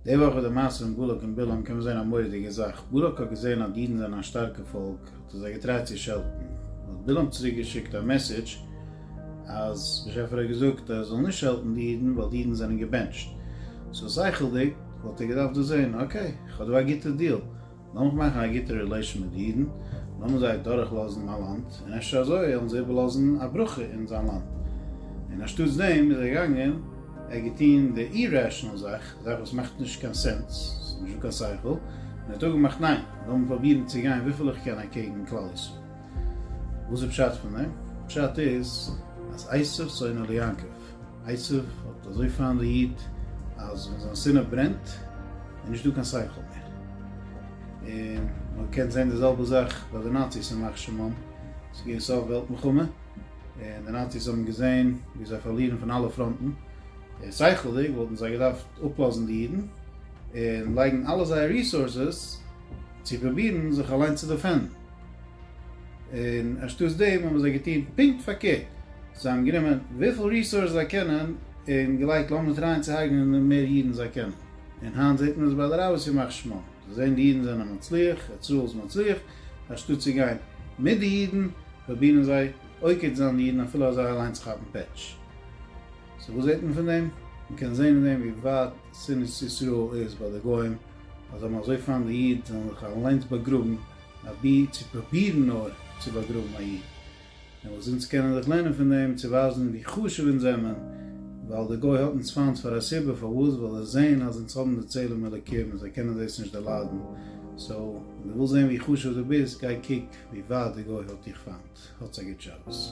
די וואך ביי די מעשה פון בלק און בלעם קען מען זען א מורא'דיגע זאך, בלק האט געזען אז די אידן זענען א שטארקע פאלק האט ער זיי געטרייט צו שעלטן, האט בלעם צוריק געשיקט א מעסעדזש אז באשעפער האט געזאגט אז ער זאל נישט שעלטן די אידן ווייל די אידן זענען געבענטשט, סאו שכל'דיג וואלט ער געדארפט דאס זען, אקעי, כ'האב דא א גוטע דיעל, לאמיך מאכן א גוטע רילעישאן מיט די אידן, לאמיר זיי דורכלאזן מיין לאנד, און אפשר אזוי וועלן זיי איבערלאזן א ברכה אין זיין לאנד. און אנשטאטס דעם איז ער געגאנגען, ער האט געטון די אי-רעשאנעל זאך, א זאך וואס מאכט נישט קיין סענס, ס'איז נישט דא קיין שכל, און ער האט אפגעמאכט ניין, לאמיר פרובירן צו גיין וויפיל איך קען אקעגן כלל ישראל. וואס איז פשט פון דעם? פשט איז אז עשו שונא ליעקב. עשיו האט אזוי פיין ליעדט אז ווען זיין סינע ברענט איז נישט דא קיין שכל מער. און מען קען זעהן די זעלבע זאך ביי די נאציס ימח שמם, עס איז געווען סוף וועלט מלחמה און די נאציס האבן געזעהן ווי זיי פארלירן פון אלע פראנטן, שכל'דיג וואלטן זיי געדארפט אפלאזן די אידן און לייגן אלע זייער ריסארסעס צו פרובירן זיך אליינס צו דעפענדן. און אנשטאטס דעם האבן זיי געטון פונקט פארקערט, זיי האבן גענומען וויפיל ריסארס זיי קענען און געלייגט לאמיר טרייען צו הרג'נען די מער אידן זיי קענען, און היינט זעט מען עס ביי די רבי'ס ימח שמו, זיי זעען די אידן זענען מצליח, ישראל איז מצליח, אנשטאטס צו גיין מיט די אידן פרובירן זיי עוקץ זיין די אידן אפילו אז זיי אליינס כאפן פעטש. סאו וואס זעט מען פון דעם? מען קען זען אין דעם ווי ווייט שנאת ישראל איז ביי די גוים, אז זיי האבן אזוי פיינט די איד זיי זאלן זיך אליינס באגראבן אבי צו פרובירן נאר צו באגראבן א איד. און וואס אונז קענען דאך לערנען פון דעם צו ווייזן ווי חשוב אונז זעמען, ווייל די גוי האט אונז פיינט פאר א סיבה, פארוואס? ווייל זיי זעהן אז אונז האבן די צלם אלוקים און זיי קענען דאס נישט דערליידן. סאו, ווען דו ווילסט זעהן ווי חשוב דו ביסט, גיי קוק ווי ווייט די גוי האט דיך פיינט. האטס א גוט שבת.